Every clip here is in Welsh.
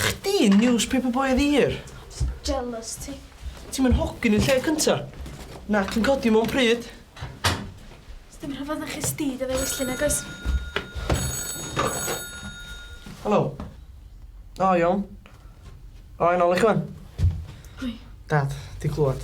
Chdi yn newspaper boy of the year. Jealous ti. Ti'm yn hogyn yn lle cynta. Nac yn codi mewn pryd. Sdim rhyfedd na chi sti dy ddewis nag oes? Helo. O iawn. O yn ôl i chwan. Hoi. Dad, di clwad.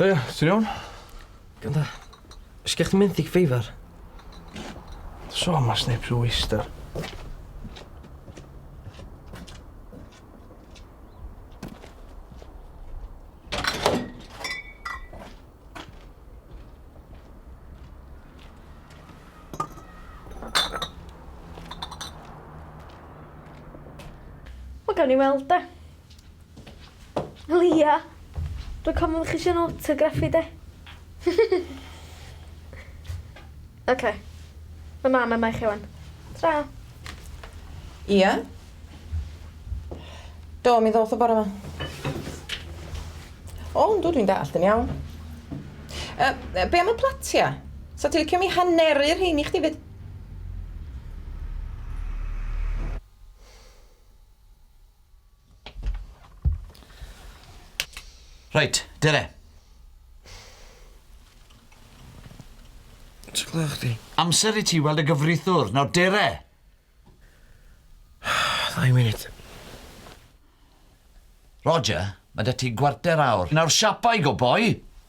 Ie, ti'n iawn? Ganda. Sgech chdi mynd i ffeifar? So, mae sneb rhyw eistedd. Wel, gawn ni weld de. Wel ia, dwi'n cofio chi eisiau autograph i de. Ok. Ma' mam yma i chi ŵan. Tara. Ia? Do, mi ddoth o bore 'ma. O, yndw, dwi'n dallt yn iawn. Yy, be am y platia? Sa ti licio mi haneru rhein i chdi 'fyd? Reit, dere. Ti'n gwneud chdi? Amser i ti weld y gyfrithwr. Nawr, dere! Ddau munud. Roger, mae da ti gwarter awr. Nawr, siapa i go boi!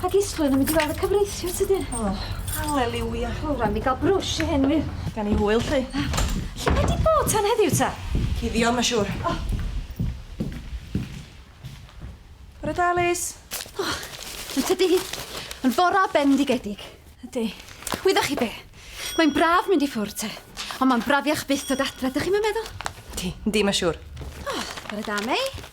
Pa gisglun yn mynd i weld y cyfreithiwr tydyn? O, haleliwia. O, rai mi ga'l brwsh i hyn wir. Gan i hwyl lly. Lle mae di bod tan heddiw ta? Cuddio ma siwr. O! Bore da Liz. O! Yn tydi hi? Yn fora bendigedig. Ydi. Wyddoch chi be? Mae'n braf mynd i ffwrdd te. Ond mae'n brafiach byth dod adre, dych chi'm yn meddwl? Yndi, yndi ma siwr. O! Bore da Mei.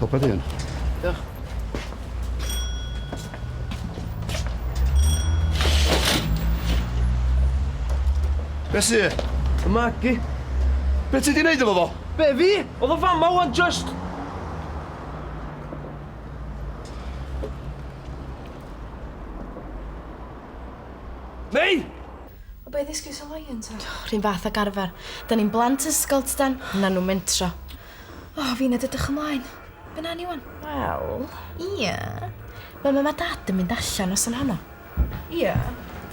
Hopa di hwn. Diolch. Be sy? Y magi. Be ti di neud efo fo? Be fi? Oedd o fama wan just... Mei! O be ddysgu so Ryan ta? O, rhyn fath ag arfer. Da ni'n blant ysgol tydan? Na nhw mentro. O, oh, fi'n edrych ymlaen. Be na ni wan? Wel... Ia. Mae mam a dad yn mynd allan os yn honno. Ia.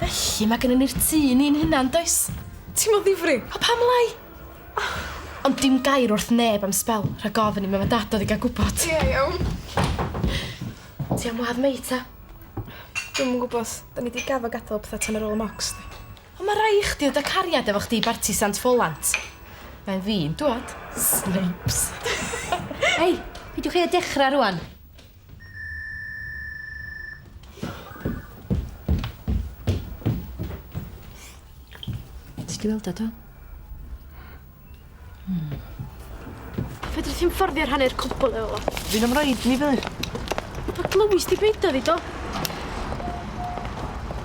Felly mae gennym ni'r tŷ ni'n hunan, does? Ti'n modd ddifri? O pam lai? Ond dim gair wrth neb am spel, rhag ofyn i mam a dad oedd i gael gwybod. Ia, iawn. Ti am wad mei ta? Dwi'm yn gwybod. Da ni di gafo gadael pethau tan ar ôl y mocs di. Ond mae rhai i chdi o dy cariad efo chdi i barti Sant Ffolant. Mae'n fi'n dwad. Snipes. Hei, peidiwch chi a dechrau rwan. Ti di weld o do? Fedri ti'n fforddio rhannu'r cwbl efo fo? Fi'n am roed ni fydd. Pa glywis di beidio ddi do?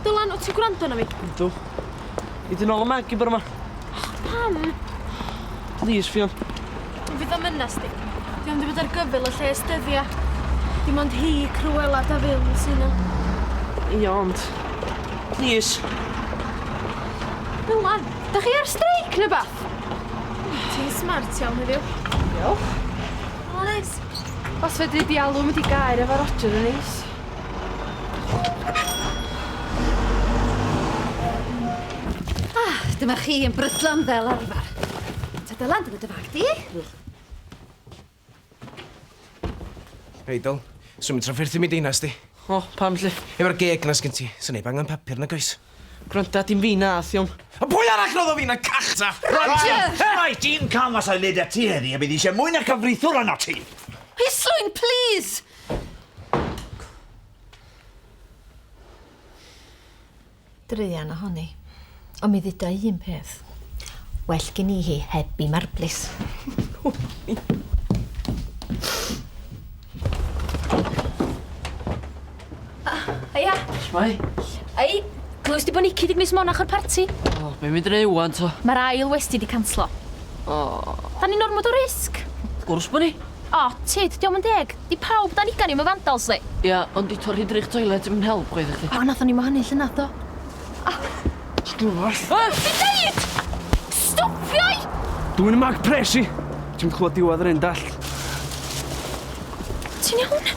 Dylan, o ti'n gwrando na fi? Ydw. I dyn ôl y mag i bwrw yma. Pam? Please, Fion. Fi ddim yn nasty. Fi ond i fod ar gyfyl y lle ystyddia. Dim ond hi, Cruella, da fyw, sy'n o. Ia, ond... Please. Dylan! Da chi ar streic neu beth? Ti'n smart iawn heddiw. Diolch. O, neis. Os fedri di alw mynd i gair efo Roger yn neis. Ah, dyma chi yn brydlon fel arfer. Ta dy lan, dyma dy fag di. Idol, swn i'n trafferthu mi deinas di. O, pam lly? Efo'r geg na sgyn ti, sy'n neib angen papur nag oes? Gwranda, dim fi na, thiom. A pwy arall roedd o fi na cachta? Rhaid! Rhaid i'n cael mas o'i led at ti heddi, a bydd eisiau mwy na cyfrithwr anna ti. Islwyn, please! druan ohoni. Ond mi dduda i un peth. Well gin i hi heb i marblis. Haia. Shwmai? Ei, glywys di bod Nicky di gwneud monach o'r parti? O, oh, be'n mynd yn ei wan to? Mae'r ail westi di canslo. O. Oh. Da ni'n ormod o risg. Gwrs bod ni. O, oh, tid, diolch yn deg. Di pawb dan ugain i'm yn fandals ddi. Ia, ond di torri drych toilet i'm yn help chwaith i chdi. O, nathon ni'm wahanu llynadd do? Sgwrs! Wel! Dwi'n deud! Stopia 'i! Dwyn y mag pres i! Ti'm clwad diwadd yr un dallt. Ti'n iawn?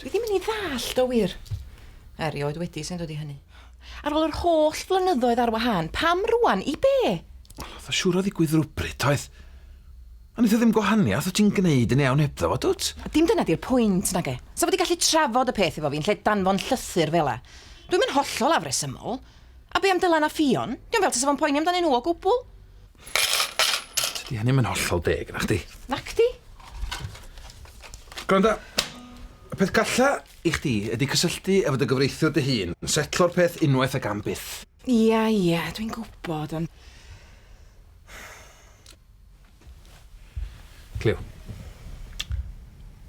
Dwi ddim yn ei ddallt o wir. Erioed wedi sy'n dod i hynny. Ar ôl yr holl flynyddoedd ar wahân, pam rwan? I be? Oedd o siŵr o ddigwydd rhywbryd, oedd? A wneith o ddim gwahaniaeth, wyt ti'n gwneud yn iawn hebddo fo, dwt? Dim dyna di'r pwynt, nag e? Sa fo wedi gallu trafod y peth efo fi yn lle danfon llythyr fela. Dwi'm yn hollol afresymol. A be am Dylan a Ffion? Dio'm fel tasa fo'n poeni amdanyn nhw o gwbl. Tydi hynny ddim yn hollol deg, nachdi? Nacdi? Gwranda, y peth galla i chdi ydi cysylltu efo dy gyfreithiwr dy hun, setlo'r peth unwaith ac am byth. Ia, ia, dwi'n gwybod, ond... Cleo.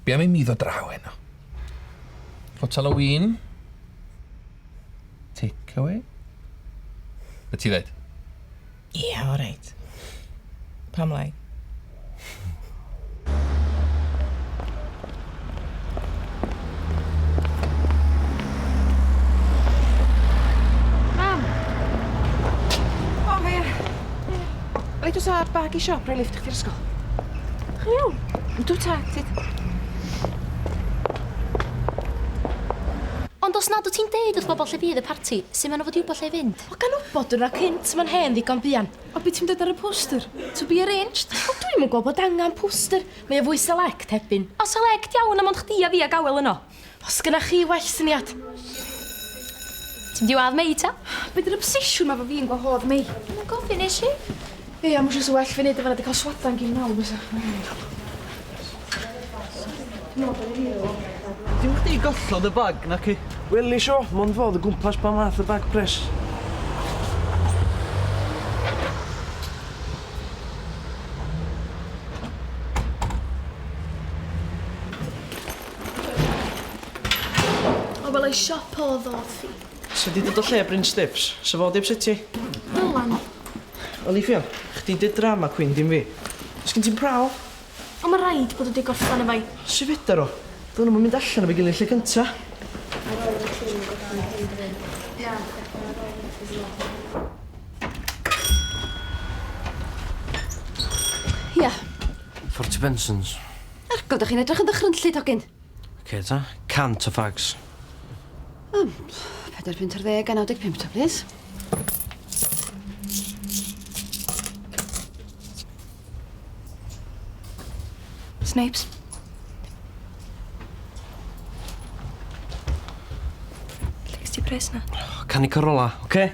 Be' am i mi ddod draw heno? Fotel o win? Takeaway? Be' ti ddeud? Ia, oreit. Pam lai? Mam! O, fe. Ble dwi sa bag i siop, rhoi lift chdi'r ysgol. Chi'n iawn? Dwi ta, tyd. Ond os nad wyt ti'n deud wrth bobl lle bydd y parti, sy'n maen nhw fod i wybod lle i fynd? O gan wbod dod â cynt ma'n hen ddigon buan. O be ti'n dweud ar y poster? To be arranged? O dwi'm yn gweld bod angan poster, mae o fwy select hebyn. O select iawn a mond chdi a fi ag awel yno. Os gynna chi well syniad. Ti'n mynd i wadd Mei ta? Be di'r obsesiwn ma fo fi yn gwahodd Mei? Dwi'm yn gofyn, nesh i? Hei, am wsio sa well fi neud e fan 'na di ca'l swadan gin mam fysa. Dim chdi gollodd y bag, naci? Wel nesh o, mond fo o'dd o gwmpas pan ath y bag pres. O wel ei siop o'dd o wrthi. Ti wedi dod o lle Bryn Stiffs? Sa fo 'di ypsetio 'i? Dylan. Olivia, chdi 'di'r drama queen dim fi. O's gen ti'm prawf? Ond ma' raid bod o 'di gorffan efo 'i. Su' fedar o? Do'n nhw'm yn mynd allan efo'i gilydd lle cynta. Ar ôl i ti gorffan dy hen bryn. Na, chwerthin ar ôl i ti sgwennu. Ia? Ffortiwbensons. Ar go, 'dych chi'n edrych yn ddychrynllyd hogyn. Ok ta, cant o fags. O, pedair punt ar ddeg a 95 ta, plis. Snipes. Lle gys ti pres na? Canu Corolla, oce? Okay?